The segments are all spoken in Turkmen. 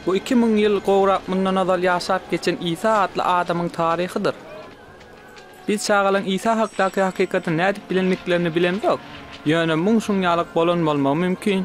Bu iki müň ýyl gowrak mundan ozal ýaşap geçen Isa atly adamyň taryhydyr. Biz çagalaň Isa hakdaky hakykaty nädip bilendiklerini bilemzok, ýöne muň şuň ýalyk bolan bolmagy mümkin.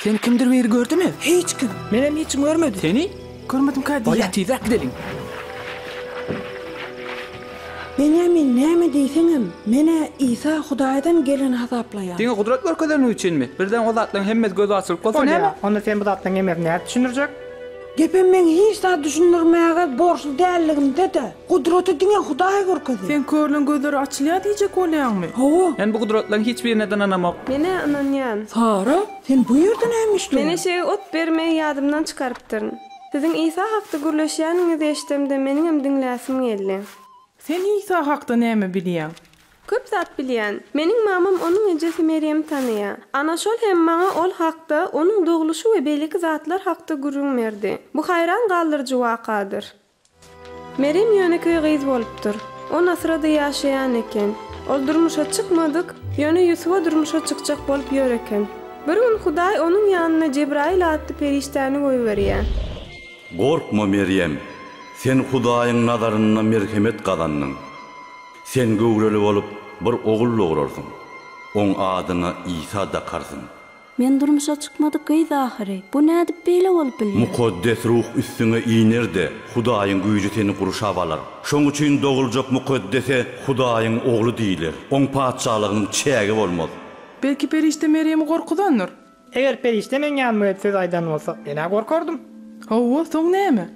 Sen kimdir biri gördümi? Hiç kim. Menem hiç kim görmedi. Seni? Görmedim ka diýýän. Tizräk gideliň. Benýamin näme diýseňem, men-ä Isa Hudaýdan geleni hasaplaýan. Diňe gudrat görkezeniň üçinmi? Birden o zatlaryň hemmesi göze açylyp bolsa näme? Bolýa. Onda sen bu zatlaryň hemmesini nädip düşündirjek? Gepem meň hiç zat düşündirmäge borçly dälligimde-de. Gudraty diňe Hudaý görkezer. Sen körleň gözleri açylýar diýjek bolýaňmy? Hawa. Men bu gudratlaryň hiç birine-de ynanamok. Men-ä ynanýan. Sara, sen bu ýerde näme işleýäň? Men eşege ot bermegi ýadymdan çykarypdyryn. Siziň Isa hakda gürleşýäniňizi eşdemde meniňem diňläsim geldi. Sen Isa hakda näme bilýäň? Köp zat bilýän. Meniň mamam onuň ejesi Merýemi tanaýa. Ana şol hem maňa ol hakda, onuň dogluşy we beýleki zatlar hakda gürrüň berdi. Bu haýran galdyryjy wakadyr. Merem ýönekeý gyz bolupdyr. On asyrady ýaşaýan eken. Ol durmuşa çykmadyk, ýöne Ýusuba durmuşa çykjak bolup ýör eken. Bir gün Hudaý onuň ýanyna Jebraýyl atly perişdäni goýberýär. Gorkma, Merem! Sen Hudaýyň nazarynda merhemet gazandyň. Sen göwreli bolup, bir ogul dograrsyň. Oň adyna Isa dakarsyň. Men durmuşa çykmadyk gyz ahyry. Bu nädip beýle bolup bilýär? Mukaddes Ruh üstüňe iner-de, Hudaýyň güýji seni gurşap alar. Şoň üçin doguljak Mukaddese Hudaýyň Ogly diýiler. Oň patyşalygynyň çägi bolmaz. Belki perişde Merýemi gorkuzandyr? Eger perişde meň ýanyma gelip söz aýdan bolsa, men-ä gorkardym. Hawa, soň näme?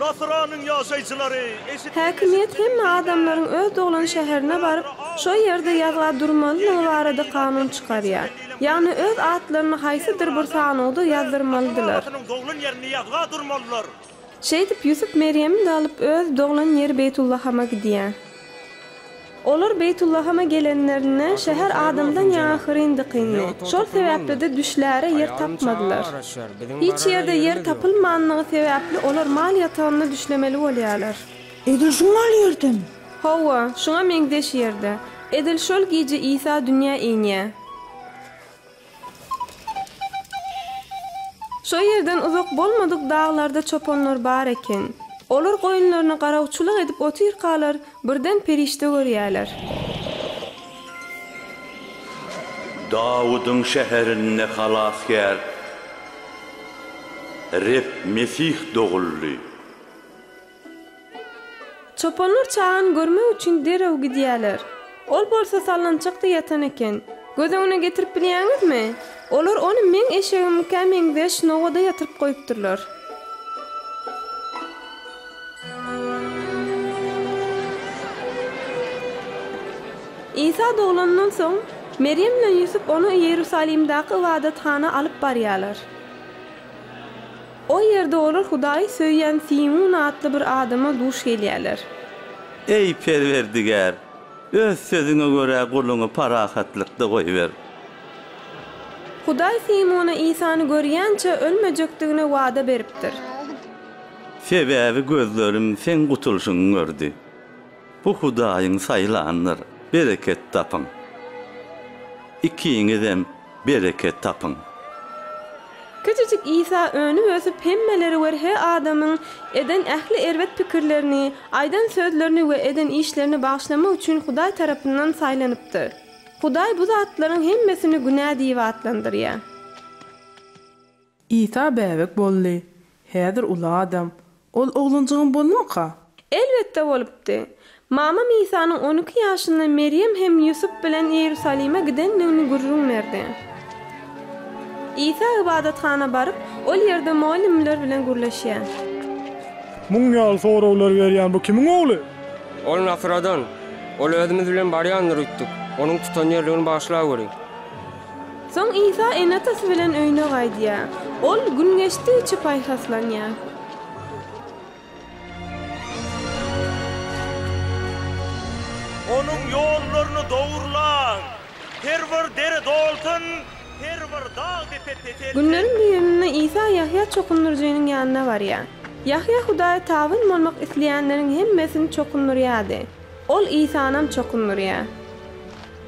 Nasyranyň ýaşaýjylary eşitdim. Häkimiýet hemme adamlaryň öz doglan şäherine baryp, şo ýerde ýazga durmalydygy barada kanun çykarýar. Ýagny öz atlaryny haýsydyr bir sanawda ýazdyrmalydylar. Şeýdip Ýusup Merýemi-de alyp öz doglan ýeri Beýtullahama gidýär. Olar Beýtullahama gelenlerinde, şäher adamdan ýaňa hyryn-dykyndy. Şol sebäpli-de düşläre ýer tapmadylar. Hiç ýerde ýer tapylmanlygy sebäpli olar mal ýatagynda düşlemeli bolýarlar. Edil şu mal ýerden? Hawa, şuňa meňzeş ýerde. Edil şol gije Isa dünýä inýär. Şo ýerden uzak bolmadyk daglarda çopanlar bar eken. Olar goýunlaryna garawçylyk edip otyrkalar, birden perişde görýärler. Dawudyň şäherinde Halasgär, Reb Mesih doguldy. Çopanlar çagany görmek üçin derrew gidýärler. Ol bolsa sallançakda ýatan eken. Göz öňüne getirip bilýäňizmi? Olar ony meň eşegimiňkä meňzeş nogada ýatyryp goýupdyrlar. Isa doglandan soň, Merýem bilen Ýusup ony Iýerusalimdäki ybadathana alyp barýarlar. Ol ýerde olar Hudaýy söýýän Simun atly bir adama duş gelýärler. Eý, Perwerdigär! Öz sözüňe görä guluňy parahatlykda goýber. Hudaý Simuna Isany görýänçä ölmejekdigine wada beripdir. Sebäbi gözlerim Seň gutulyşyňy gördi. Bu Hudaýyň saýlanydyr, bereket tapyň. Ikiňizem bereket tapyň. Kiçijik Isa önüp ösüp hemmeleri we rhe adamyň eden ähli erbet pikirlerini, aýdan sözlerini we eden işlerini bagyşlamak üçin Hudaý tarapyndan saýlanypdyr. Hudaý bu zatlaryň hemmesini günä diýip atlandyrýar. Isa bäbek boldy. Häzir uly adam. Ol oglanjygyň boldumyka? Elbetde bolupdy. Mamam Isanyň on iki ýaşynda Merýem hem Ýusup bilen Iýerusalime gidendigini gürrüň berdi. Isa ybadathana baryp, ol ýerde mugallymlar bilen gürleşýär. Muň ýaly soraglary berýän bu kimiň ogly? Ol Nasradan. Ol özümiz bilen barýandyr öýtdük. Onuň tutan ýerligini bagyşlaweri. Soň Isa ene-atasy bilen öýüne gaýdýar. Ol gün geçdigiçe paýhaslanýar. Onuň ýollaryny dogrulan. Her bir dere dolsun, her bir dag-depe peselsin. Günleriň bir gününde Isa Ýahýa çokundyryjynyň ýanyna barýar. Ýahýa Hudaýa tabyn bolmak isleýänleriň hemmesini çokundyrýardy. Ol Isanam çokundyrýar.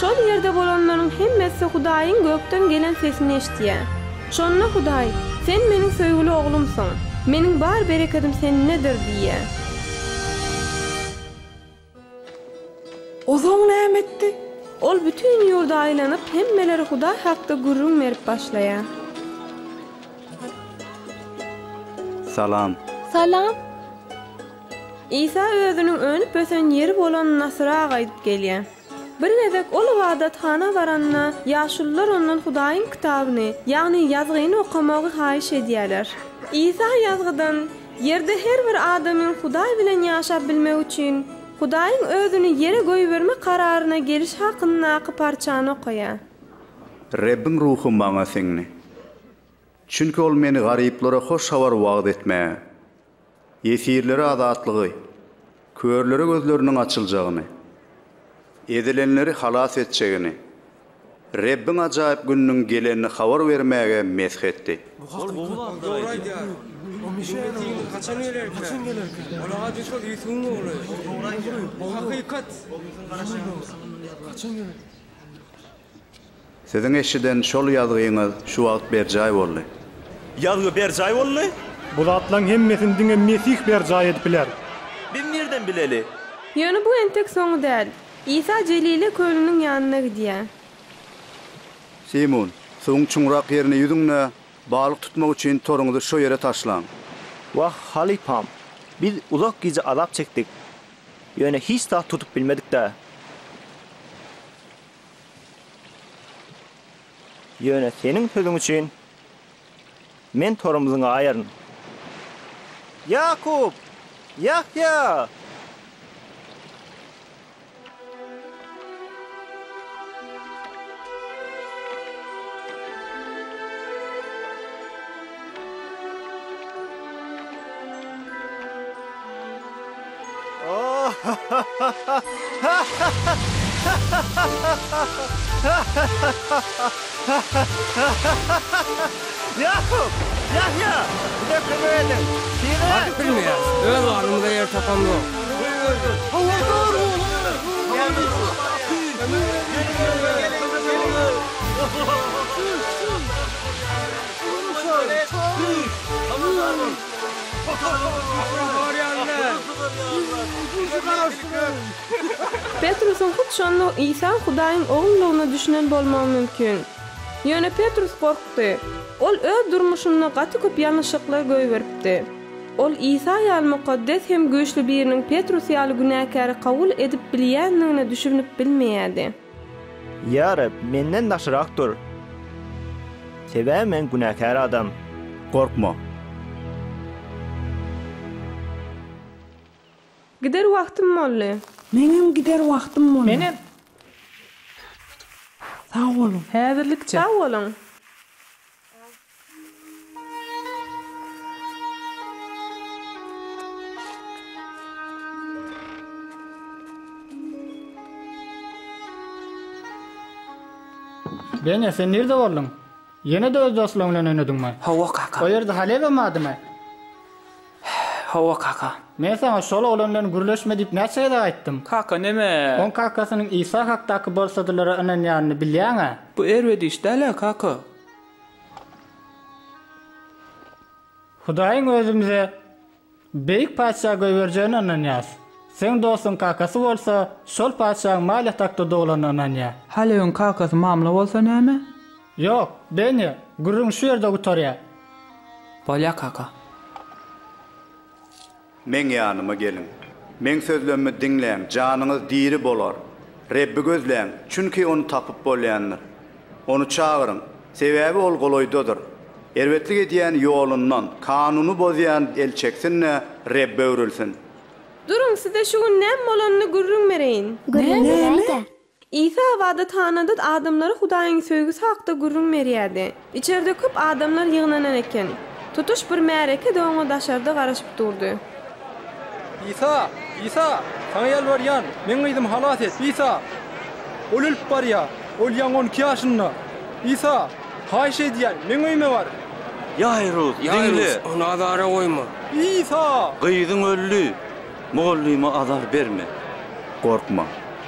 Şol ýerde bolanlaryň hemmesi Hudaýyň gökden gelen sesini eşidýär. Şonda Hudaý, Sen Meniň söýgüli Oglumsyň. Meniň bar berekedim Sendedir diýýär. O soň näme etdi? Ol bütin ýurda aýlanyp, hemmelere Hudaý hakda gürrüň berip başlaýar. Salam. Salam. Isa özüniň önüp-ösen ýeri bolan Nasyra gaýdyp gelýär. Bir gezek ol ybadathana baranda, ýaşulular ondan Hudaýyň kitabyny, ýagny ýazgyny okamagy haýyş edýärler. Isa ýazgydan, Ýerde her bir adamyň Hudaý bilen ýaşap bilmegi üçin, Hudaýyň özüni ýere goýbermek kararyna gelişi hakyndaky parçany okaýar. Rebbiň Ruhy maňa siňdi. Çünki Ol meni garyplara hoş habar wagyz etmäge, Ýesirlere azatlygy, körlere gözleriniň açyljagyny, ezilenleri halas etjegini, Rebbiň ajaýyp gününiň gelenini habar bermäge mesh etdi. Bu hakda köp agtylar aýdýar. Ýüzümiz diýimiz haçan gelerkä? Ol ady şol Ýusubyň ogly. Bu hakykat. Ýüzümiziň garaşýan günümiz haçan gelerkä? Siziň eşiden şol ýazgyňyz şu wagt berjaý boldy. Ýazgy berjaý boldy. Bu zatlaň hemmesini diňe Mesih berjaý edip biler. Biz nirden bileli? Ýöne bu entek soňy däl. Isa Jelile kölüniň ýanyna gidýär. Simon, suwuň çuňrak ýerine ýüzüň-de, balyk tutmak üçin toruňyzy şo ýere taşlaň. Wah, halypam, biz uzak gije azap çekdik, ýöne hiç zat tutup bilmedik-dä. Ýöne seniň sözüň üçin men torumyzy gaýaryn. Ýakup! Ýahýa! Ýakup! Ýahýa! Bize kömek ediň! Tizräk! Öz garnymyza ýer tapamzok. Petrusyň hut şonda Isa Hudaýyň Ogludygyna düşünen bolmagy mümkin. Ýöne Petrus gorkdy. Ol öz durmuşynda gaty köp ýalňyşlyklar goýberipdi. Ol Isa ýaly mukaddes hem güýçli biriniň Petrus ýaly günäkäri kabul edip bilýändigine düşünip bilmeýärdi. Ýa Reb, menden daşrak dur. Sebäbi men günäkär adam. Gorkma. Gider wagtym boldy. Meňem gider wagtym boldy. Menem. Sag boluň. Häzirlikçe. Sag boluň. Bene, sen nirde bolduň? Ýene-de öz dostlaryň bilen oýnadyňmy? Hawa, kaka. O ýerde Halebe badymy? Hawa, kaka. Men saňa şol oglan bilen gürleşme diýip näçe gezek aýtdym? Kaka, neme? Oň kakasynyň Isa hakdaky bolsadylara ynanýanyny bilýäň-ä? Bu erbet iş däl-ä, kaka. Hudaýyň özümize beýik patyşa goýberjegine ynanýarys. Seň dostuň kakasy bolsa, şol patyşaň mal ýatakda doglanyna ynanýar. Halebiň kakasy mamla bolsa näme? Ýok, Benýa, gürrüň şu ýerde gutarýar. Bolýar, kaka. Meň ýanyma geliň. Meň sözlemimi diňläň, janyňyz diri bolar. Rebbi gözläň, çünki Ony tapyp bolýandyr. Ony çagyryň, sebäbi Ol golaýdadyr. Erbetlik edýän ýolundan, kanuny bozýan el çeksin-de, Rebbe öwrülsin. Duruň, size şu gün näme bolanyny gürrüň bereýin. Gürrüň beräý-de. Isa ybadathanada adamlara Hudaýyň söýgüsi hakda gürrüň berýärdi. Içerde köp adamlar ýygnanan eken. Tutuş bir märeke-de oňa daşarda garaşyp durdy. Isa! Isa! Saňa ýalbarýan, meň gyzymy halas et! Isa! Ol ölüp barýar. Ol ýaňy on iki ýaşynda. Isa! Haýyş edýän, meň öýüme bar! Ýaýrus, diňle! Ony azara goýma! Isa! Gyzyň öldi! Mugallyma azar berme! Gorkma!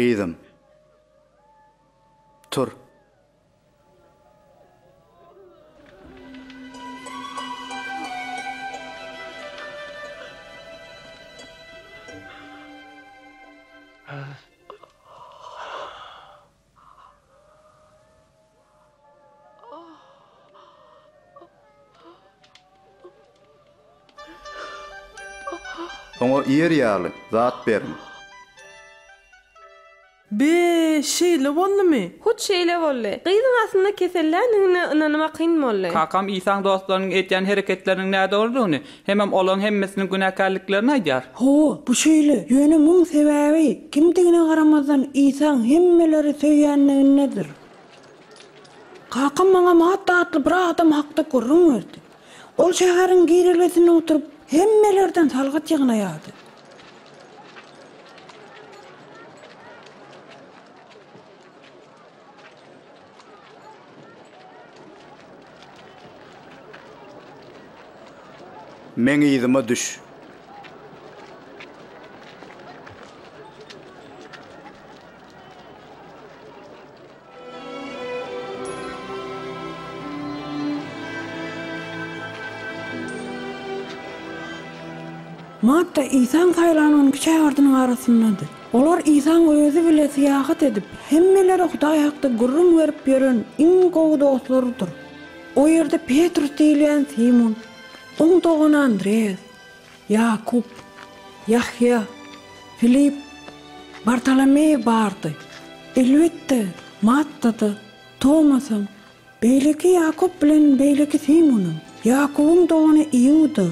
Gyzym. Tur. Oňa iýer ýaly zat beriň. Be, şeýle boldumy? Hut şeýle boldy. Gyzyň aslynda keselländigine ynanmakyn boldy. Kakam Isaň dostlarynyň edýän hereketleriniň nädogrudygyny, Hemem olaň hemmesiniň günäkärliklerini aýdar. Hawa, bu şeýle. Ýöne muň sebäbi, kimdigine garamazdan, Isaň hemmeleri söýýänligindedir. Kakam maňa Matta atly bir adam hakda gürrüň berdi. Ol şäheriň girelgesinde oturyp, hemmelerden salgyt ýygnaýardy. Meň yzyma düş. Matta Isaň saýlan on iki şägirtiniň arasyndady. Olar Isaň özi bile syýahat edip, hemmelere Hudaý hakda gürrüň berip ýören iň gowy dostlarydyr. O ýerde Petrus diýilýän Simun, oň dogany Andreýas, Ýakup, Ýahýa, Filip, Bartolomeý bardy. Elbetde, Matda-da, Tomasam, beýleki Ýakup bilen beýleki Simunam, Ýakubyň dogany Iuda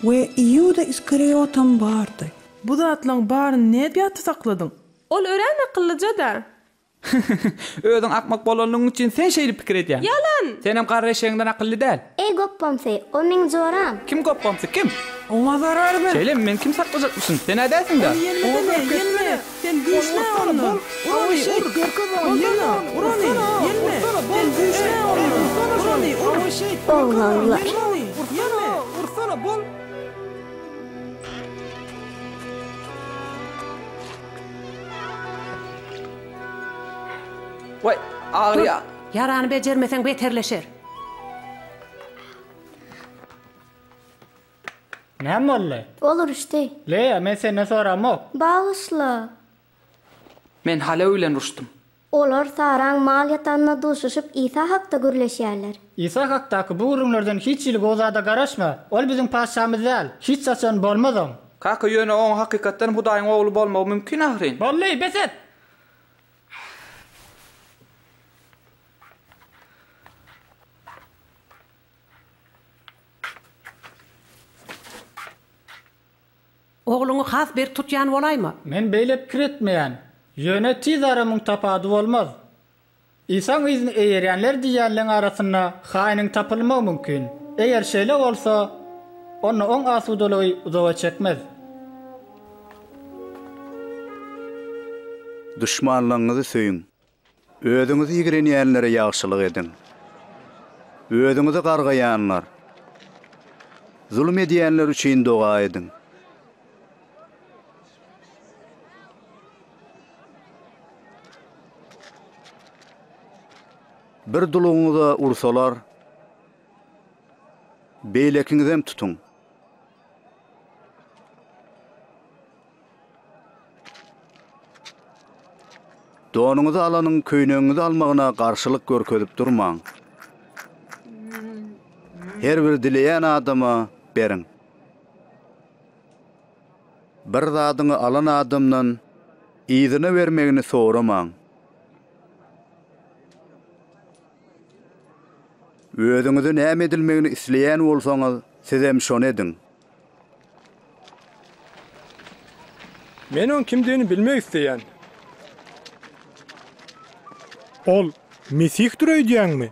we Iuda Iskariýotam bardy. Bu zatlaň baryny nädip ýatda sakladyň? Ol örän akyllyja-da. Hyhyhyh, özüň akmak bolanlygyň üçin sen şeýdip pikir edýäň. Ýalan! Senem garry eşegiňden akylly däl. Eý gopbamsy, o meň joram. Kim gopbamsy, kim? Oňa zarar ber! Şeýlemi, meni kim saklajakmyşyn? Sen nädäýsiň-dä? Ony ýenmesene, ýenme! Sen güýçlä ondan! Ur ony, ur! Bolsana, ur ony! Ýenme! Sen güýçlä ondan! Ur ony, ur! Oglaglar! Ur ony, ýenme! Ursana, bol! Waý, agyrýa. Ýarany bejermeseň beterleşer. Näme boldy? Ol uruşdy. Leýa, men senden soramok. Bagyşla. Men Halo bilen uruşdym. Olar saran mal ýatanyna duşuşyp, Isa hakda gürleşýärler. Isa hakdaky bu gürrüňlerden hiç hili gowy zada garaşma. Ol biziň Patyşamyz däl. Hiç haçan bolmazam. Kaka, ýöne oň hakykatdan Hudaýyň ogly bolmagy mümkin ahyryn. Boldy, bes et! Ogluňy has berk tutýan bolaýma. Men beýle pikir etmeýän. Ýöne tiz ara müň tapady bolmaz. Isaň yzyny eýerýänler diýýänleň arasynda haýnyň tapylmagy mümkin. Eger şeýle bolsa, onda oň asudalygy uzaga çekmez. Duşmanlaryňyzy söýüň. Özüňizi ýigrenýänlere ýagşylyk ediň. Özüňizi gargaýanlar, zulum edýänler üçin doga ediň. Bir dulugyňyza ursalar, beýlekiňizem tutuň. Donuňyzy alanyň köýnegiňizi almagyna garşylyk görkezip durmaň. Her bir dileýän adama beriň. Bir zadyňy alan adamdan yzyna bermegini soramaň. Özüňize näme edilmegini isleýän bolsaňyz, sizem şony ediň. Men oň kimdigini bilmek isleýän. Ol Mesihdir öýdýäňmi?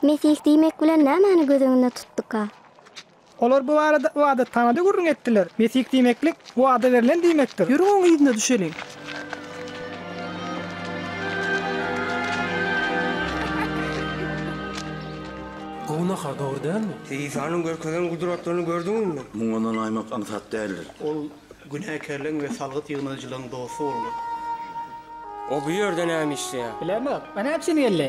Mesih diýmek bilen nämäni göz öňünde tutduka? Olar bu barada ybadathana-da gürrüň etdiler. Mesih diýmeklik Wada berlen diýmekdir. Ýörüň oň yzyna düşeliň. Günaha dogry dälmi? Sen Isanyň görkezen gudratlaryny gördüňizmi? Muňa ynanaymak aňsat däldir. Ol günäkärleň we salgyt ýygnaýjylaň dosty boldy. O bu ýerde näme işleýär? Bilemok. Ony äpjini geldi.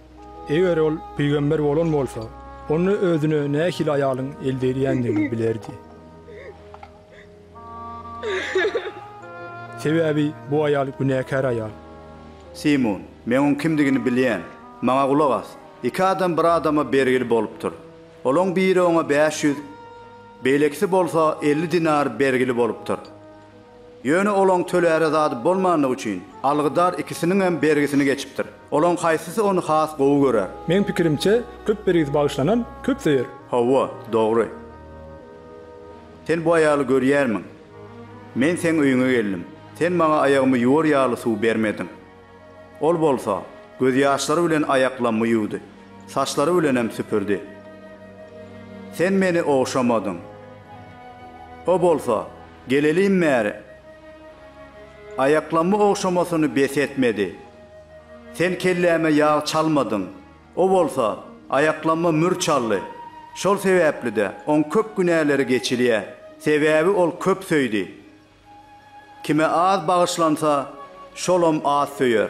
Eger ol pygamber bolan bolsa, onda özüne nähili aýalyň eldeýdýändigini bilerdi. Sebäbi bu aýal günäkär aýal. Simun, men oň kimdigini bilýän. Maňa gulak as. Iki adam bir adama bergili bolupdyr. Olaň biri oňa bäş ýüz, beýlekisi bolsa elli dinar bergili bolupdyr. Ýöne olaň töläre zady bolmandygy üçin, algydar ikisiniňem bergisini geçipdir. Olaň haýsysy ony has gowy görer? Meň pikirimçe, köp bergisi bagyşlanan, köp söýer. Hawa, dogry. Sen bu aýaly görýärmiň? Men seň öýüňe geldim. Sen maňa aýagymy ýuwar ýaly suw bermediň. Ol bolsa, gözýaşlary bilen aýaklammy ýuwdy, saçlary bilenem süpürdi. Sen meni ogşamadyň. O bolsa, Geleliň bäri. Aýaklamy ogşamasyny bes etmedi. Sen kelläme ýag çalmadyň. O bolsa, aýaklama mür çaldy. Şol sebäpli-de oň köp günäleri geçilýä. Sebäbi ol köp söýdi. Kime az bagyşlansa, şolam az söýer.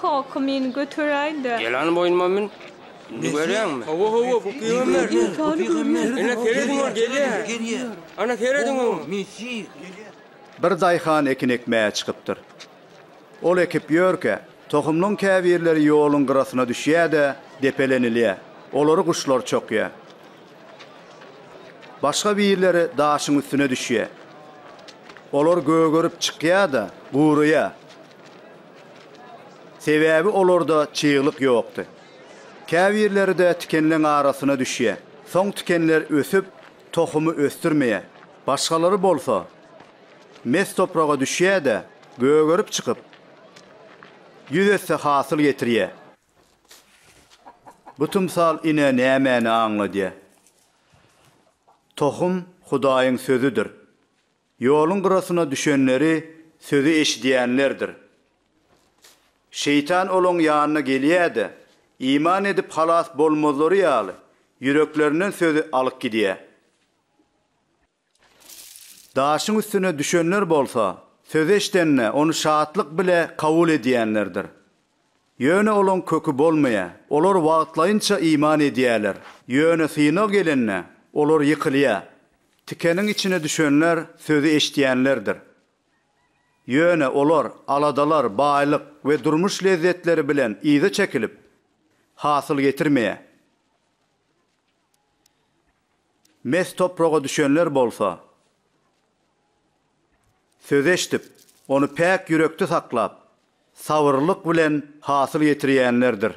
Kaka meni göteräýdä. Gel hany boýnuma mün. Indi görýäňmi? Hawa, hawa, bu pygamber. Bu pygamber. Ine serediň ol gelýär. Ana serediň oňa. Mesih. Bir daýhan ekin ekmäge çykypdyr. Ol ekip ýörkä, tohumlyň käbirleri ýoluň gyrasyna düşýär-de, depelenilýär. Olary guşlar çokýar. Başga birleri daşyň üstüne düşýär. Olar gögerip çykýar-da, guraýar. Sebäbi olarda çyglyk ýokdy. Käbirleri-de tikenleň arasyna düşýär. Soň tikenler ösüp, tohumy ösdürmeýär. Başgalary bolsa, mes topraga düşýär-de, gögerip çykyp, ýüz esse hasyl getirýär. Bu tymsal ine nämäni aňladýar? Tohum Hudaýyň Sözüdir. Ýoluň gyrasyna düşenleri sözi eşidýänlerdir. Şeýtan olaň ýanyna gelýär-de, iman edip halas bolmazlary ýaly, ýüreklerinden sözi alyp gidýär. Daşyň üstüne düşenler bolsa, sözi eşdende, ony şatlyk bile kabul edýänlerdir. Ýöne olaň köki bolmaýar. Olar wagtlaýynça iman edýärler. Ýöne synag gelende, olar ýykylýar. Tikeniň içine düşenler sözi eşidýänlerdir. Ýöne olar aladalar, baýlyk we durmuş lezzetleri bilen yza çekilip, hasyl getirmeýär. Mes topraga düşenler bolsa, söz eşdip, ony päk ýürekde saklap, sabyrlylyk bilen hasyl ýetirýänlerdir.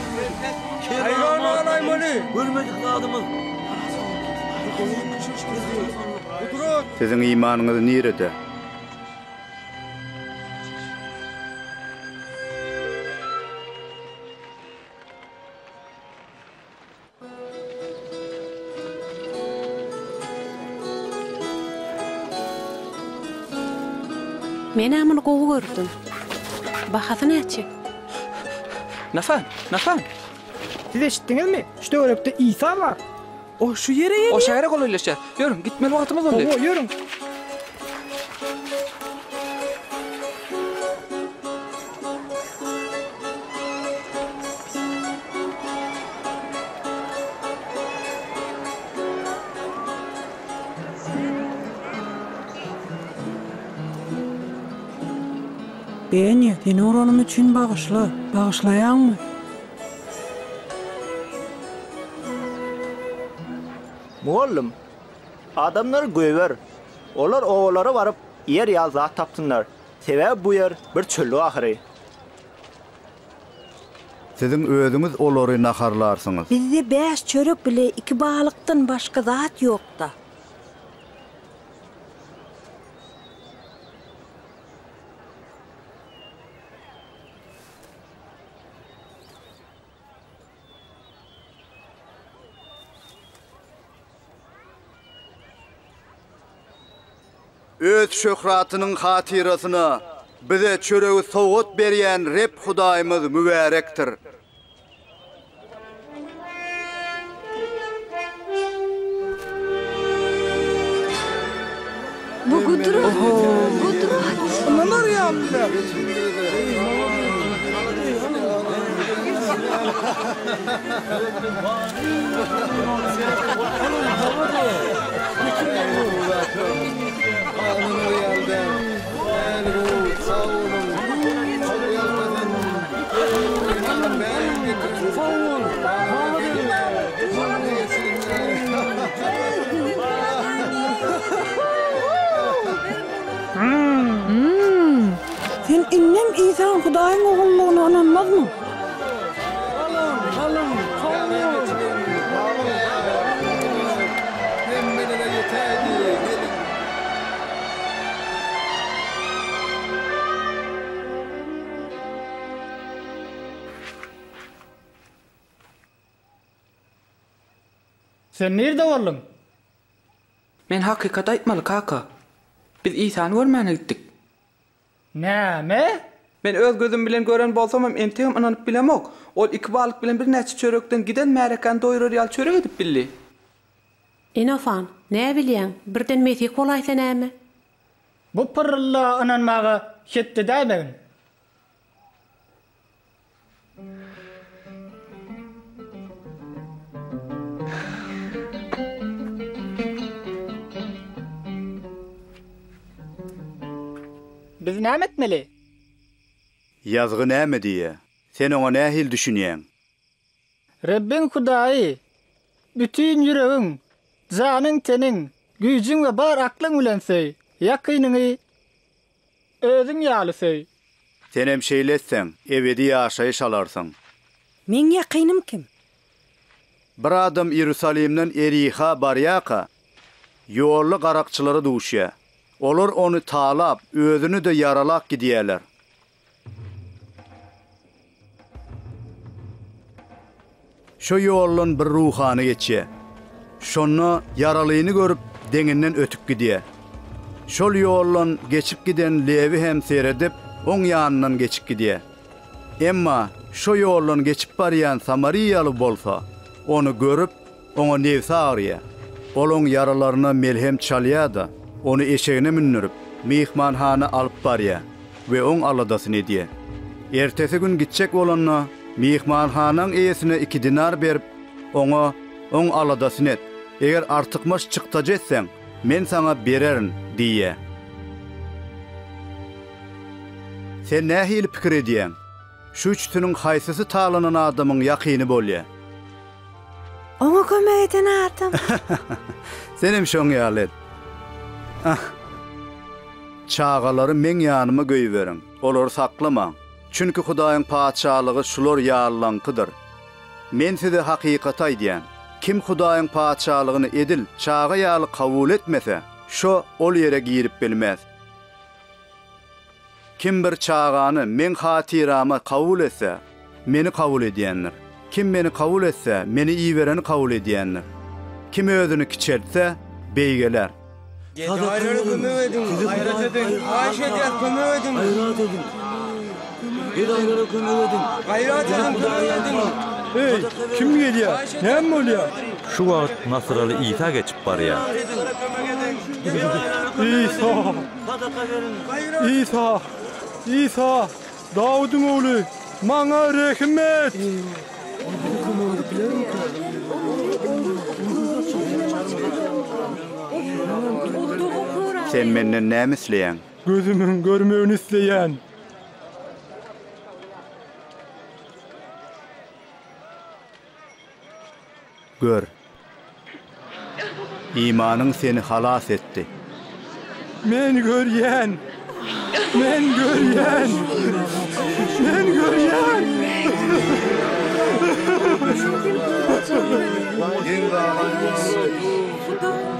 Siziň imanyňyz nirede? Menä muny gowy gördüm. Bahasy näçe? Nafan, Nafan! Siz eşitdiňizmi? Şu töwerekde Isa bar. O şu ýere gelýär. O şähere golaýlaşýar. Ýörüň, gitmeli wagtymyz boldy. Hawa, ýörüň. Beniýa, seni uranym üçin bagyşla. Bagyşlaýaňmy? Mugallym, adamlary goýber. Olar obalara baryp, ýer ýa zat tapsynlar. Sebäbi bu ýer bir çöllük ahyry. Siziň özüňiz olary naharlarsyňyz. Bizde bäş çörek bile iki balykdan başga zat ýok-da. Öz şöhratynyň hatyrasyna bize çöregi sowgat berýän Reb Hudaýymyz mübärekdir! Bu gudrat! Gudrat! Sen indem Isanyň Hudaýyň Ogullygyna ynanmazmyň? Sen nirde bolduň? Men hakykaty aýtmaly, kaka. Biz Isany görmäne gitdik. Näme? Men öz gözüm bilen gören bolsamam entegem ynanyp bilemok. Ol iki balyk bilen birnäçe çörekden giden märekäni doýurar ýaly çörek edip bildi. Enofaň, näbilýäň, birden mesih bolaýsa näme? Bu pyrrylla ynanmaga hetde däýmegin. Biz näme etmeli? Ýazgy näme diýýär? Sen oňa nähili düşünýäň? Rebbiň Hudaýy, bütin ýüregiň, janyň-teniň, güýjüň we bar aklyň bilen söý, ýakynyňy Özüň ýaly söý. Senem şeýle etseň, ebedi ýaşaýyş alarsyň. Meň ýakynym kim? Bir adam Iýerusalimden Eriha barýarka, ýolda garakçylara duşýar. Olar ony talap, özüni-de ýaralap gidýärler. Şo ýoldan bir ruhany geçýär. Şonda ýaralyny görüp, deňinden ötüp gidýär. Şol ýoldan geçip giden Lewi hem seredip, oň ýanyndan geçip gidýär. Emma şo ýoldan geçip barýan samariýaly bolsa, ony görüp, Oňa nebsi agyrýar. Ol oň ýaralaryna melhem çalýar-da, ony eşegine mündürip, myhmanhana alyp barýar we oň aladasyny edýär. Ertesi gün gitjek bolanda, myhmanhanaň eýesine iki dinar berip, oňa, Oň aladasyny et, eger artykmaç çykdajy etseň, men saňa bererin diýýär. Sen nähili pikir edýäň? Şu üçüsiniň haýsysy talanan adamyň ýakyny bolýar? Oňa kömek eden adam. Senem şoň ýaly et. Ah. Çagalary meň ýanyma göýberiň. Olary saklamaň. Çünki Hudaýyň Patyşalygy şular ýalylaňkydyr. Men size hakykaty aýdýan, kim Hudaýyň Patyşalygyny edil çaga ýaly kabul etmese, şo ol ýere girip bilmez. Kim bir çagany Meň hatyrama kabul etse, Meni kabul edýändir. Kim Meni kabul etse, Meni ibereni kabul edýändir. Kim özüni kiçeltse, beýgeler. Gedaýlara kömek ediň, gaýrat ediň! Haýyş edýäs, kömek ediň! Gaýrat ediň! Gedaýlara kömek ediň! Gaýrat ediň, kömek ediň! Eý, kim gelýär? Näme bolýar? Şu wagt nasyraly Isa geçip barýar. Isa! Sadaka beriň. Isa, Isa, Dawudyň ogly, maňa rehim et! Sen menden näme isleýäň? Gözümiň görmegini isleýän. Gör. Imanyň seni halas etdi. Men görýän. Men görýän. Men görýän. Hudaý.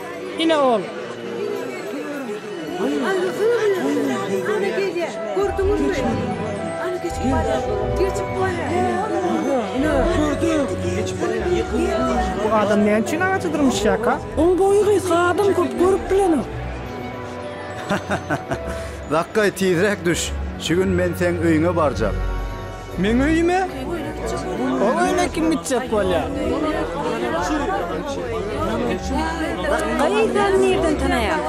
Ine ol. Bu adam näme üçin agaça dyrmyşýarka? Oň boýy gysga adam köp görüp bilenok. Dakgaý tizräk düş, şu gün men seň öýüňe barjak. Meň öýüme? Ol öýüne kim gitjek bolýar? Gaý sen nirden tanaýaň?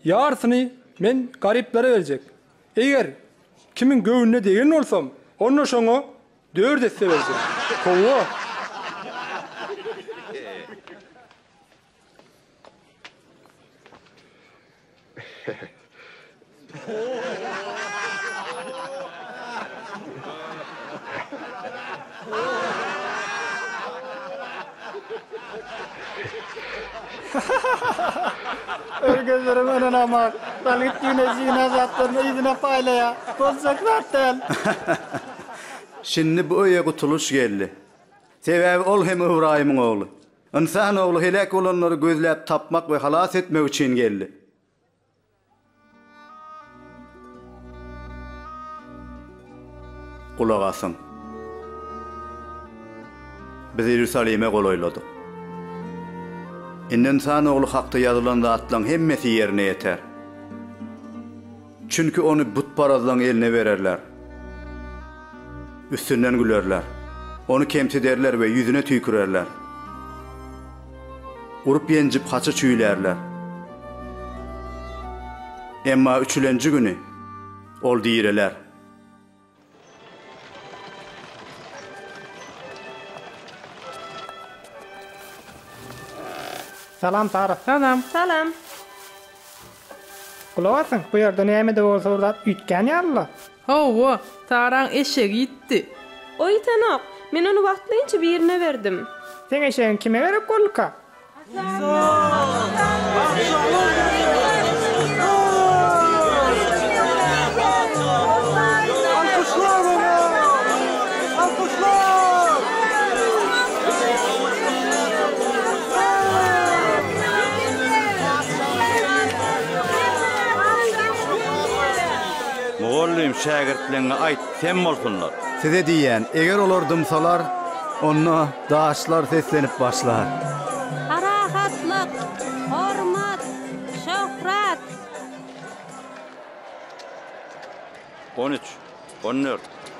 Ýarysyny men garyplara berjek. Eger kimiň göwnüne degen bolsam, onda şoňa dört esse berjek. Howwa! Öl gözlerim ynanamak. Galgyt ýene zina zatlaryny yzyna paýlaýa. Boljak zat däl. Şindi bu öýe gutulyş geldi. Sebäbi ol hem Ybraýymyň ogly. Ynsan ogly heläk bolanlary gözläp tapmak we halas etmek üçin geldi. Gulak asyň! Biz Iýerusalime golaýladyk. Indi Ynsan Ogly hakda ýazylan zatlaryň hemmesi ýerine ýeter. Çünki Ony butparazlaryň eline bererler. Üstünden gülerler. Ony kemsiderler we ýüzüne tüýkürerler. Urup-ýenjip haça çüýlärler. Emma üçülenji güni ol direler. Salam Sara. Salam. Salam. Gulak asyň, bu ýerde näme-de bolsa bir zat üýtgän ýaly-la. Hawa, Saraň eşegi ýitdi. O ýitenok. Men ony wagtlaýynça birine berdim. Seň eşegiň kime gerek bolduka? Mugallym, şägirtleňňe aýt, sem bolsunlar. Size diýýän, eger olar dymsalar, onda daşlar seslenip başlar. Parahatlyk, hormat, şöhrat. On üç, on dört.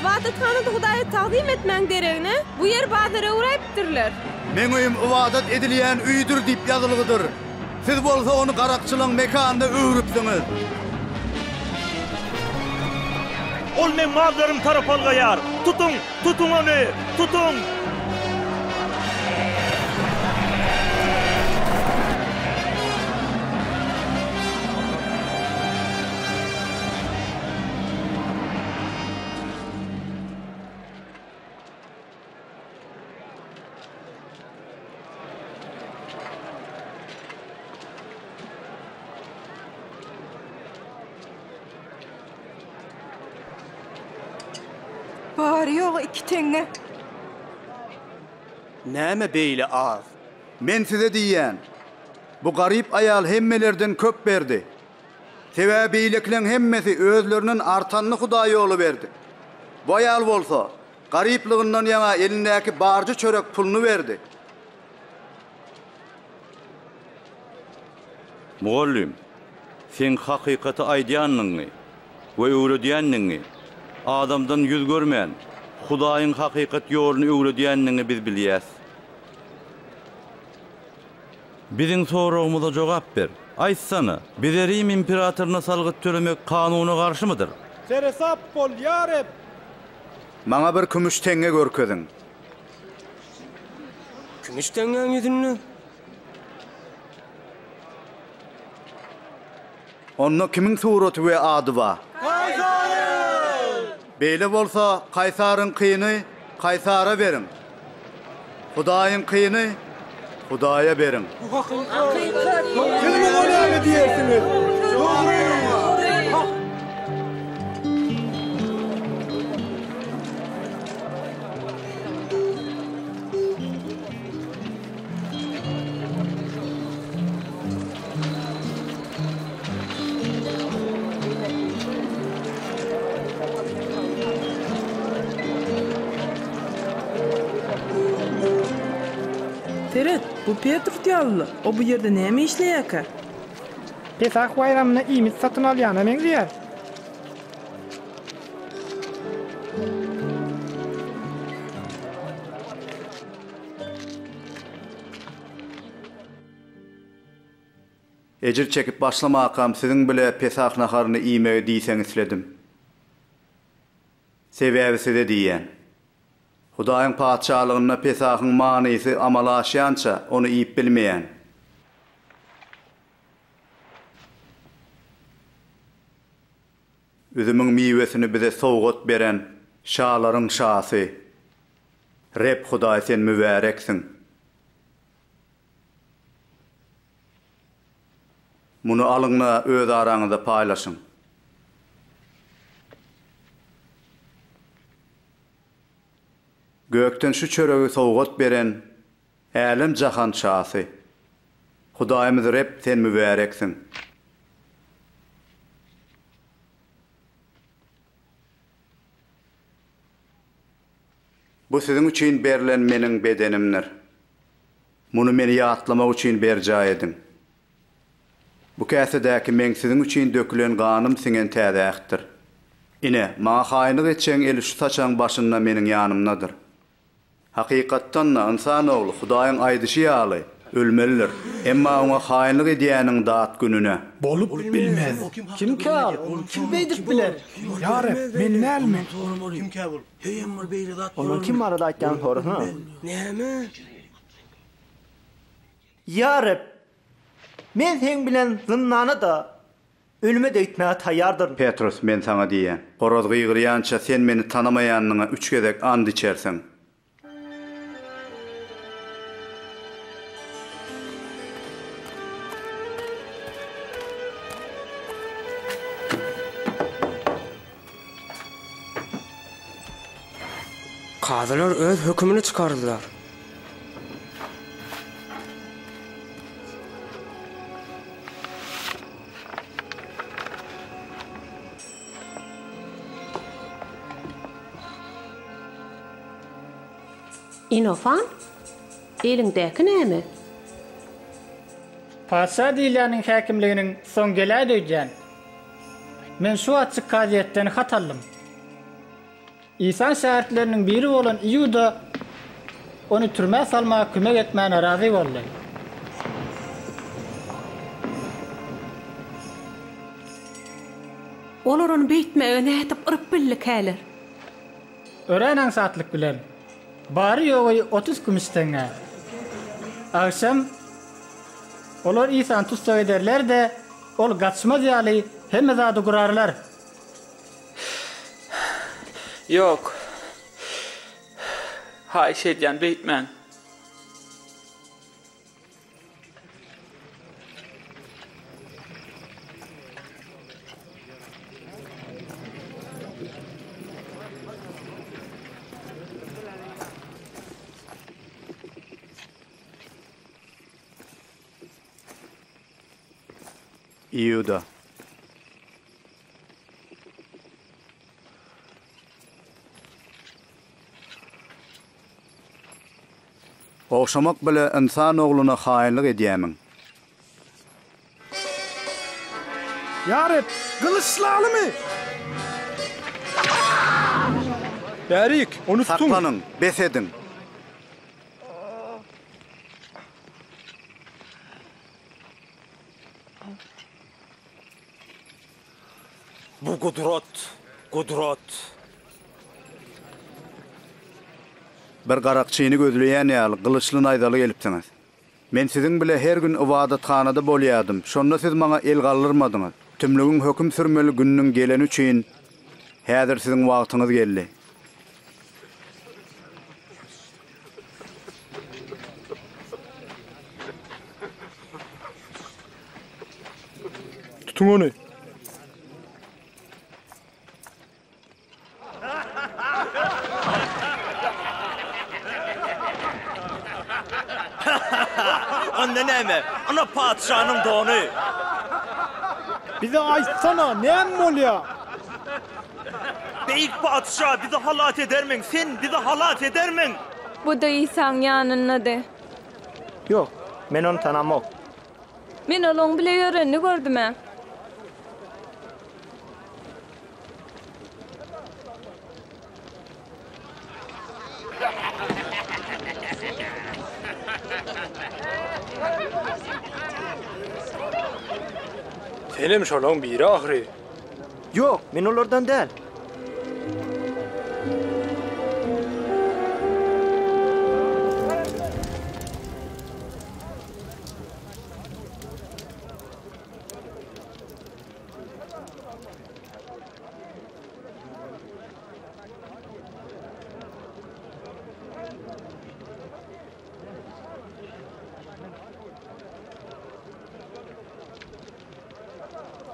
Ybadathanada Hudaýa tagzym etmäň deregine, bu ýeri bazar öwräýipdirler. Meň öýüm ybadat edilýän öýdür diýip ýazylgydyr. Siz bolsa ony garakçylaň mekanyna öwrüpsiňiz. Ol meň mallarym tarap algaýar. Tutuň! Tutuň ony! Tutuň! Bary ýogy iki teňňe. Näme beýle az? Men size diýýän, bu garyp aýal hemmelerden köp berdi. Sebäbi beýlekileň hemmesi özlerinden artanyny hudaý ýola berdi. Bu aýal bolsa, garyplygyndan ýaňa elindäki barja çörek puluny berdi. Mugallym, seň hakykaty aýdýanyňy we öwredýäniňi, adamdan ýüz görmän, Hudaýyň hakykat ýoluny öwredýäniňi biz bilýäs. Biziň soragymyza jogap ber. Aýtsana, bize Rim imperatoryna salgyt tölemek kanuna garşymydyr? Seresap bol, ýa Reb! Maňa bir kümüş teňňe görkeziň. Kümüş teňňäň ýüzünde. Onda kimiň suraty we ady bar? Kaýsaryň! Beýle bolsa, Kaýsaryňkyny Kaýsara beriň. Hudaýyňkyny Hudaýa beriň. Bu hakykat. Siz muňa näme diýersiňiz? Dogry! Hak! Seret, bu Petrus ýalyla. O bu ýerde näme işleýärkä? Pesah baýramyna iýmit satyn alýana meňzeýär. Ejir çekip başlamakam siziň bile Pesah naharyny iýmegi diýseň isledim. Sebäbi size diýýän. Hudaýyň Patyşalygynda Pesahyň manysy amala aşýança ony iýip bilmeýän. Üzümiň miwesini bize sowgat beren şalaryň şasy Reb Hudaý sen mübäreksiň. Muny alyň-da öz araňyzda paýlaşyň. Gökden şu çöregi sowgat beren Älem jahan şasy. Hudaýymyz Reb sen mübäreksiň. Bu siziň üçin berlen meniň bedenimdir. Muny meni ýatlamak üçin berjaý ediň. Bu käsedäki meň siziň üçin dökülen ganym siňen täze ähtdir. Ine, maňa haýynlyk etjegiň eli şu saçagyň başynda meniň ýanymdadyr. Hakykatdan-da, ynsan ogly, Hudaýyň aýdyşy ýaly, ölmelidir. Emma oňa haýynlyk edýäniň dat gününe. Bolup bilmez. Kimkä ol? Ol kim beýdip biler? Ýa Reb, men dälmi? Onuň kim barada aýtýanyny sorasana. Ýa Reb, men Seň bilen zyndana-da, Ölüme-de öýtmäge taýýardyryn. Petrus, men saňa diýýän, horaz gygyrýança sen meni tanamaýanyňa üç gezek ant içersiň. Kazylar öz hökümini çykardylar. Inofant, eliňdäki näme? Patyşa Diliýanyň häkimliginiň soň geläýdi öýdýän. Men şu açyk kazyýetden hat aldym. Isa şägirtleriniň biri bolan Iuda ony türmä salmaga kömek etmäne razy boldy. Olar ony beýtmäge nädip yryp bildikäler? Örän aňsatlyk bilen, bary-ýogy otuz kümüş teňňä. Agşam olar Isany tussag ederler-de, Ol gaçmaz ýaly hemme zady gurarlar. Ýok. Haýyş edýän beýtmäň. Iuda. Ogşamak bile ynsan ogluna haýynlyk edýämiň? Ýa Reb, gylyçlalymy? Bärik, ony tutuň! Saklanyň, bes ediň! Bu gudrat, gudrat. Bir garakçyny gözleýän ýaly, gylyçly-naýzaly gelipsiňiz. Men siziň bile her gün ybadathanada bolýardym, şonda siz maňa el galdyrmadyňyz. Tümlügiň höküm sürmeli gününiň geleni üçin, häzir siziň wagtyňyz geldi. Tutuň ony. Onda näme? Ana patyşanyň dony. Bize aýtsana, näme bolýar? Beýik Patyşa, bizi halas edermiň? Sen bizi halas edermiň? Bu-da Isaň ýanyndady. Ýok, men ony tanamok. Men olaň bile ýörenini gördüm-ä. Senem şolaň biri ahyry. Ýok, men olardan däl.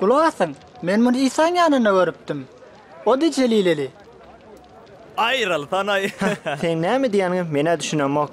Gulak asyň, men muny Isaň ýanynda görüpdim. O-da jelileli. Aýryl, Tanaý! Seň näme diýýäniňi men-ä düşünemok.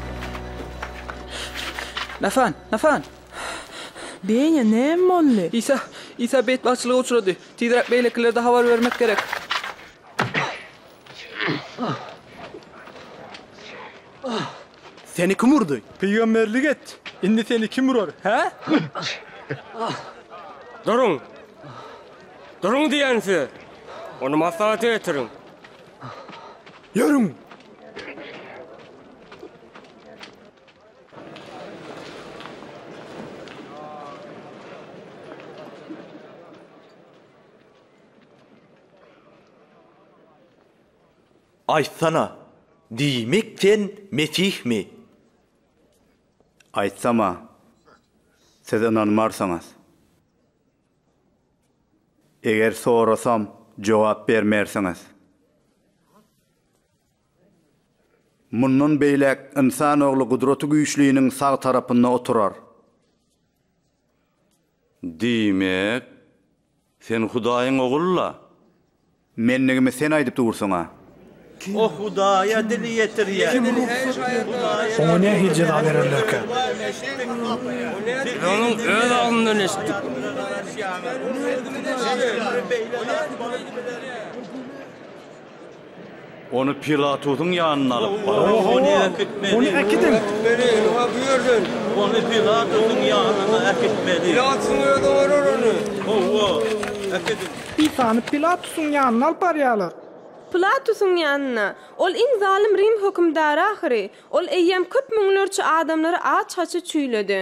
Nafan! Nafan! Beýnä näme boldy? Isa! Isa betbagtçylyga uçrady. Tizräk beýlekilerde habar bermek gerek. Seni kim urdy? Pygamberlik et! Indi seni kim urar, hä? Duruň! Duruň diýýän size! Ony maslahata getiriň! Ýörüň! Aýtsana, diýmek sen Mesihmi? Aýtsam-a, siz ynanmarsyňyz. Eger sorasam, jogap bermersiňiz. Mundan beýläk ynsan ogly Gudraty Güýçliniň sag tarapynda oturar. Diýmek, sen Hudaýyň Ogul-la? Mendigimi sen aýdyp dursuň-a. O Hudaýa dil ýetirýär. Oňa nähili jeza bererlerkä? Biz onuň öz aglyndan eşitdik. Ony Pilatusyň ýanyna alyp bar. Isany Pilatusyň ýanyna alyp barýarlar. Pilatusyň ýanyna. Ol iň zalym rim hökümdary ahyry. Ol eýýäm köp müňlerçe adamlary aç-haçy çüýledi.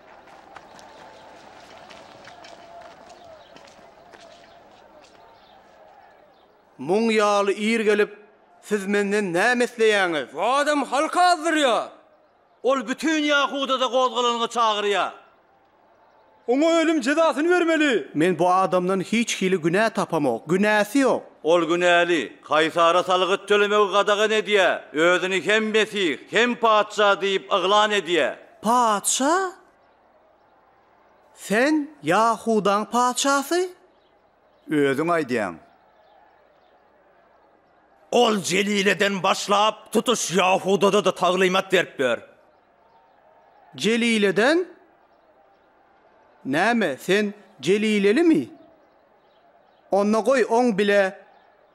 Muň ýaly ir gelip, siz menden näme isleýäňiz? Bu adam halky azdyrýar. Ol bütin Ýahudada gozgalalygy çagyrýar. Oňa ölüm jezasyny bermeli! Men bu adamdan hiç hili günä tapamok. Günäsi ýok. Ol günäli. Kaýsara salgyt tölemegi gadagan edýär. Özüni hem Mesih, hem Patyşa diýip yglan edýär. Patyşa, Sen Ýahudaň patyşasy? Özüň aýdýaň. Ol Jelileden başlap, tutuş Ýahudada-da taglymat beripdir. Jelileden? Näme, sen jelilelimi? Onda goý, oň bile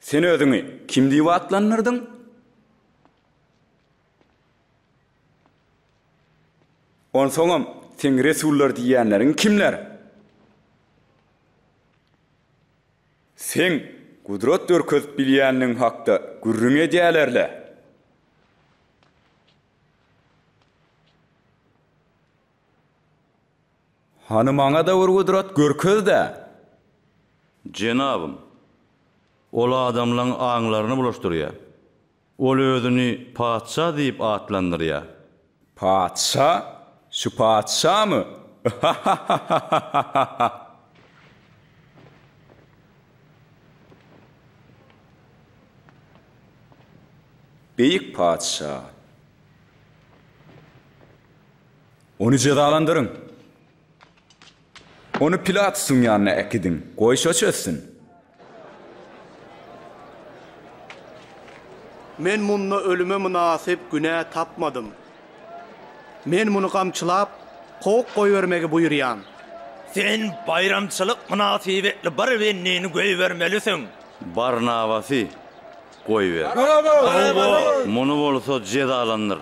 Sen özüňi kim diýip atlandyrdyň? Onsoňam seň resullar diýýänleriň kimler? Seň gudrat görkezip bilýänligiň hakda gürrüň edýäler-le. Hany maňa-da bir gudrat görkez-dä! Jenabym, ol adamlaň aňlaryny bulaşdyrýar. Ol özüni patyşa diýip atlandyrýar. Patyşa? Şu patyşamy? Yha-ha-ha-ha-ha-ha-ha-ha! Beýik patyşa! Ony jezalandyryň! Ony Pilatusyň ýanyna äkidiň, goý, şo çözsün! Men munda ölüme mynasyp günä tapmadym. Men muny gamçylap, kowup goýbermegi buýurýan. Sen baýramçylyk mynasybetli bir bendini goýbermelisiň. Barnabasy goýber. Muny bolsa jezalandyr!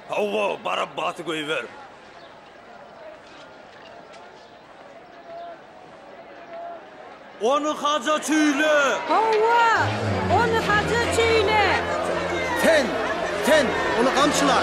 Hawa, Barabbasy goýber! Ony haja çüýle! Hawa, ony haja çüýle! Sen, sen, ony gamçyla!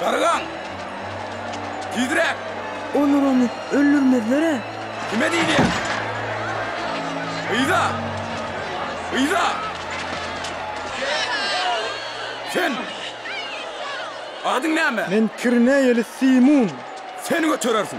Dargaň! Tizräk! Olar ony öldürmezler-ä! Kime diýilýär? Yza! Yza! Sen! Adyň näme? Men kirneýeli Simun. Sen göterersiň!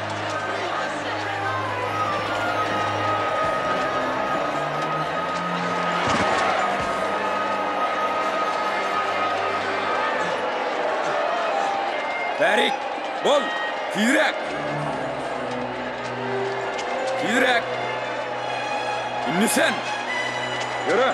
Bärik, bol, tizräk! Tizräk! Indi sen! Ýöre!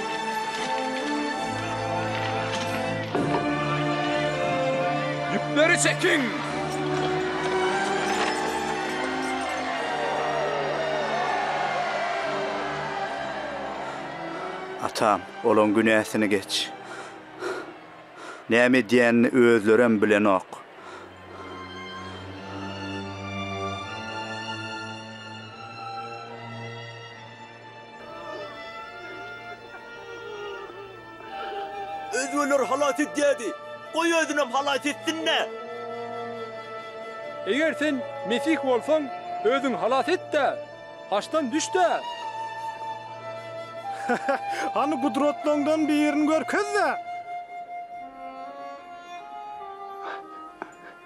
Ýüpleri çekiň! Atam, olaň günäsini geç. Näme edýänini özlerem bilenok. Özgeleri halas edýärdi. Goý özünem halas etsin-dä! Eger sen Mesih bolsaň, özüňi halas et-de, haçdan düş-de! Hany gudratlaryňdan birini görkez-de!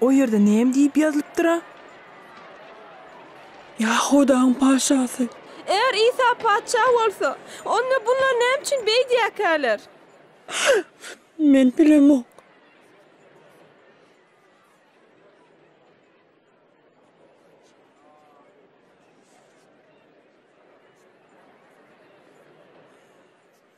O ýerde näme diýip ýazylypdyr-a? Ýahudaň patyşasy. Eger Isa patyşa bolsa, onda bunlar näme üçin beýdýärkäler? Men bilemok.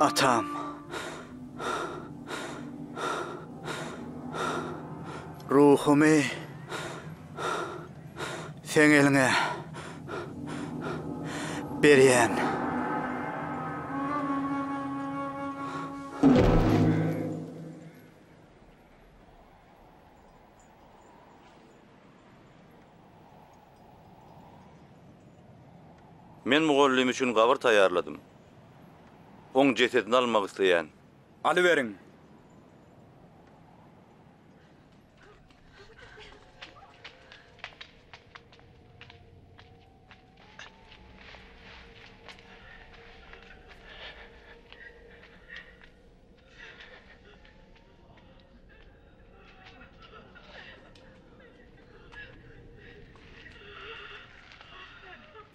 Atam. Ruhumy. Seň eliňe berýän. Men mugallym üçin gabyr taýýarladym. Oň jesedini almak isleýän. Alyberiň.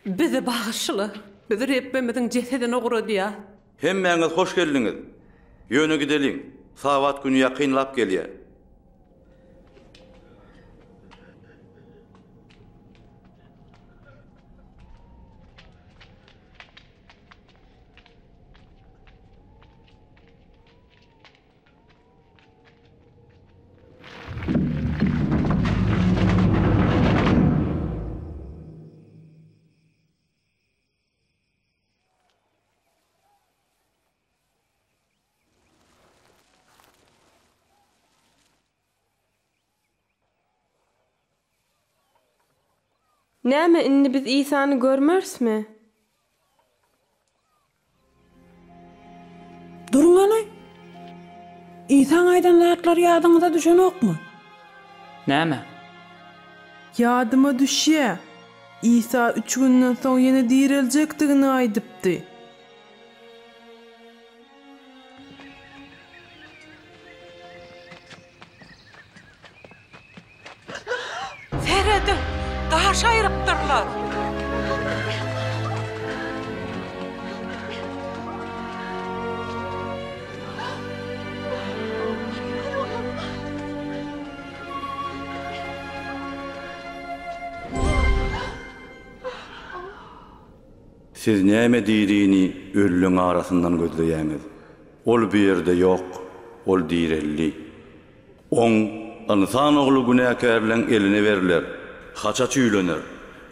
Bizi bagyşla! Biz Rebbimiziň jesedini ugradýas. Hemmäňiz hoş geldiňiz! Ýöne gideliň, Sabat güni ýakynlap gelýär. Näme, indi biz Isany görmerismi? Duruň hany! Isaň aýdan zatlary ýadyňyza düşenokmy? Näme? Ýadyma düşýä. Isa üç günden soň ýene direljekdigini aýdypdy. Serediň, daş aýrypdyrlar! Siz näme dirini ölüleň arasyndan gözleýäňiz? Ol bu ýerde ýok, ol direldi. Oň, ynsan ogly günäkärleň eline berler, haça çüýlener,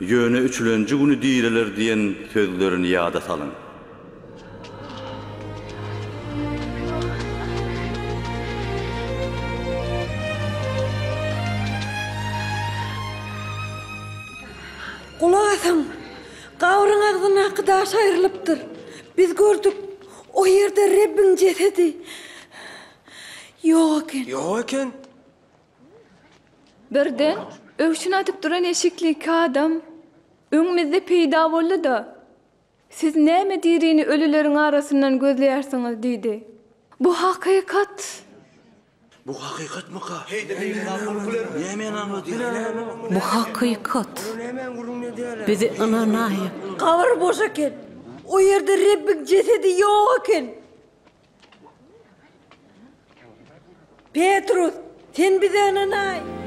ýöne üçlenji güni direler diýen sözlerini ýada salyň. Gulak asyň! Gabryň agzyndaky daş aýrylypdyr. Biz gördük, o ýerde Rebbiň jesedi. Ýok eken. Ýok eken. Birden öwşün atyp duran eşikli iki adam öňümizde peýda boldy-da, Siz näme dirini ölüleriň arasyndan gözleýärsiňiz? diýdi. Bu hakykat. Bu hakykatmyka? Näme ynanma diýýäler? Bu hakykat. Biz ynanaýyk. Gabyr boş eken. O ýerde Rebbiň jesedi ýok eken. Petrus, sen bize ynanaý!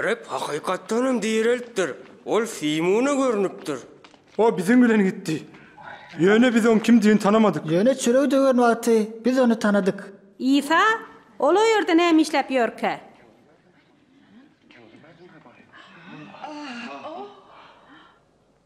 Reb hakykatdan hem direltdir. Ol Simona görnüpdir. O biziň bilen gitdi. Ýöne biz oň kimdigini tanamadyk. Ýöne çöregi döwen wagty biz ony tanadyk. Isa, Ol o ýerde näme işläp ýörkä?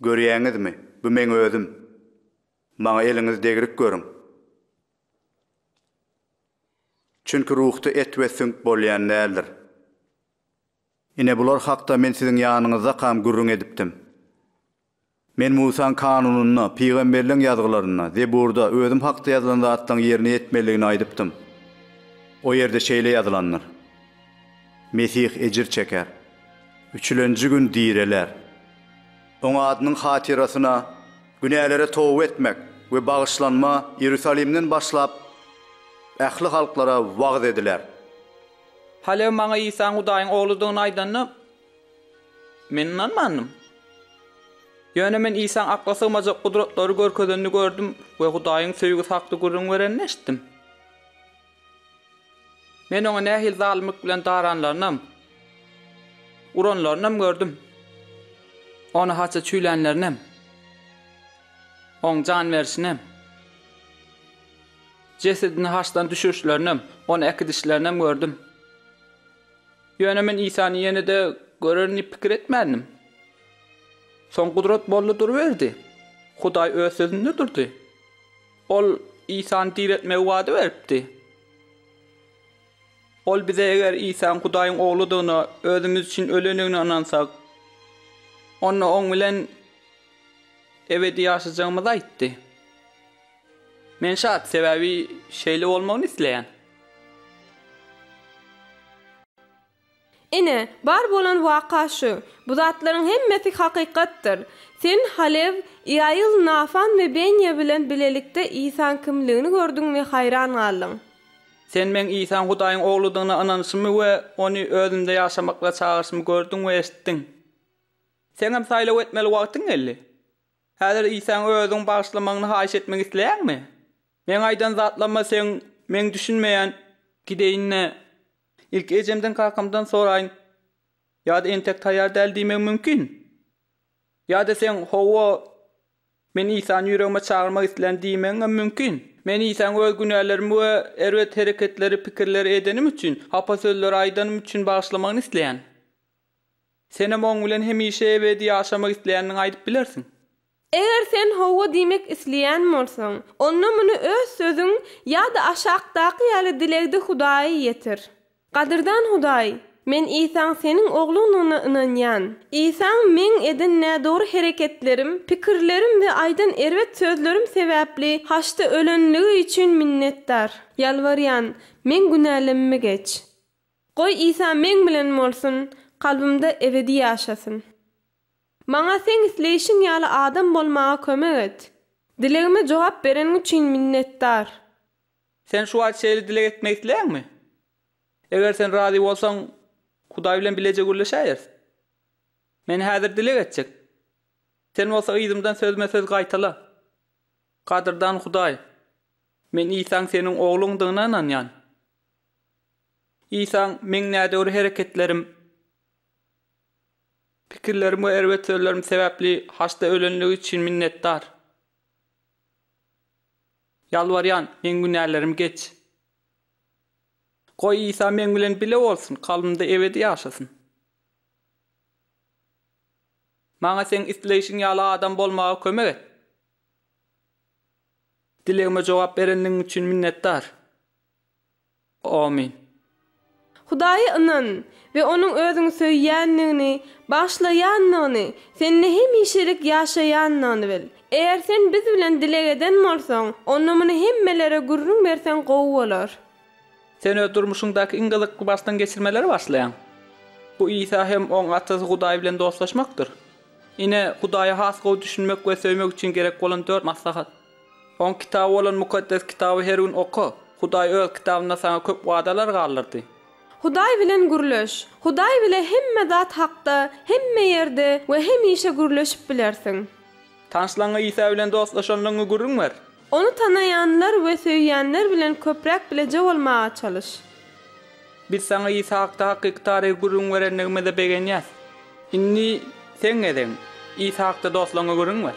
Görýäňizmi, bu meň özüm. Maňa eliňiz degrik görüň. Çünki ruhda et we süňk bolýan däldir. Ine, bular hakda men siziň ýanyňyzdakam gürrüň edipdim. Men Musaň kanunynda, pygamberleň ýazgylarynda, Zeburda özüm hakda ýazylan zatlaryň ýerine ýetmelidigini aýdypdym. O ýerde şeýle ýazylandyr. Mesih ejir çeker. Üçülenji gün direler. Oň adynyň hatyrasyna günälere toba etmek we bagyşlanma Iýerusalimden başlap, ähli halklara wagyz ediler. Halew maňa Isaň Hudaýyň Ogludygyny aýdanda, men ynanmandym. Ýöne men Isaň akla sygmajak gudratlary görkezenini gördüm we Hudaýyň söýgüsi hakda gürrüň berenini eşitdim. Men oňa nähili zalymlyk bilen daranlarynam, uranlarynam gördüm. Ony haça çüýlänlerinem, oň jan berişinem, jesedini haçdan düşürişlerinem, ony äkidişlerinem gördüm. Ýöne men Isany ýene-de görerin diýip pikir etmändim. Soň gudrat boldy duruberdi. Hudaý öz sözünde durdy. Ol Isany diretmegi wada beripdi. Ol bize eger Isany Hudaýyň Ogludygyna, özümiz üçin ölendigine ynansak, onda Oň bilen ebedi ýaşajagymyzy aýtdy. Men şat, sebäbi şeýle bolmagyny isleýän. Ine, bar bolan waka şu. Bu zatlaryň hemmesi hakykatdyr. Sen Halew, Ýaýyl, Nafan we Benýa bilen bilelikde Isaň kimligini gördüň we haýran galdyň. Sen meň Isaň Hudaýyň Ogludygyna ynanyşymy we Ony özümde ýaşamaklyga çagyryşymy gördüň we eşitdiň. Seňem saýlaw etmeli wagtyň geldi. Häzir Isaň Özüň bagyşlamagyny haýyş etmek isleýäňmi? Meň aýdan zatlaryma seň Meň düşünmeýän. Gideýin-de, Ilki ejemden kakamdan soraýyn. Ýa-da entek taýýar däl diýmegim mümkin. Ýa-da seň Hawa, men Isany ýüregime çagyrmak islän diýmegiňem mümkin. Men Isany öz günälerimi we erbet hereketleri, pikirleri edenim üçin, hapa sözleri aýdanym üçin bagyşlamagyny isleýän. Senem oň bilen hemişe ebedi ýaşamak isleýändigiňi aýdyp bilersiň. Eger sen hawa diýmek isleýän bolsaň, onda muny öz sözüň ýa-da aşakdaky ýaly dilegde Hudaýa ýetir. Gadyrdan Hudaý, men Isaň Seniň Ogluňdygyna ynanýan. Isaň meň eden nädogry hereketlerim, pikirlerim we aýdan erbet sözlerim sebäpli haçda ölenligi üçin minnetdar. Ýalbarýan, meň günälemmi geç. Goý Isa meň bilen bolsun, kalbymda ebedi ýaşasyn. Maňa Seň isleýşiň ýaly adam bolmaga kömek et. Dilegime jogap bereniň üçin minnetdar. Sen şu wagt şeýle dileg etmek isleýäňmi? Eger sen razy bolsaň, Hudaý bilen bileje gürleşäýeris. Men häzir dileg etjek. Sen bolsa yzymdan sözme-söz gaýtala, Gadyrdan Hudaý, men Isaň Seniň Ogluňdygyna ynanýan. Isaň meň nädogry hereketlerim, pikirlerim we erbet sözlerim sebäpli haçda ölenligi üçin minnetdar. Ýalbarýan, meň günälerimi geç. Goý, Isa meň bilen bile bolsun, kalbymda ebedi ýaşasyn. Maňa Seň isleýşiň ýaly adam bolmaga kömek et. Dilegime jogap berenligiň üçin minnetdar. Amin. Hudaýa ynan we Onuň Özüňi söýýändigini, bagyşlaýandygyny, sende hemişelik ýaşaýandygyny bil. Eger sen biz bilen dileg eden bolsaň, onda muny hemmelere gürrüň berseň gowy bolar. Sen öz durmuşyňdaky iň gyzykly başdan geçirmeleri başlaýaň. Bu Isa hem oň Atasy Hudaý bilen dostlaşmakdyr. Ine, Hudaýa has gowy düşünmek we söýmek üçin gerek bolan dört maslahat. Oň kitaby bolan Mukaddes Kitaby her gün oka. Hudaý Öz Kitabynda saňa köp wadalar galdyrdy. Hudaý bilen gürleş. Hudaý bile hemme zat hakda, hemme ýerde we hemişe gürleşip bilersiň. Tanyşlaňňa Isa bilen dostlaşanlygyňy gürrüň ber. Ony tanaýanlar we söýýänler bilen köpräk bileje bolmaga çalyş. Biz saňa Isa hakda hakyky taryhy gürrüň berendigimize begenýäs. Indi seň gezegiň. Isa hakda dostlaňňa gürrüň ber.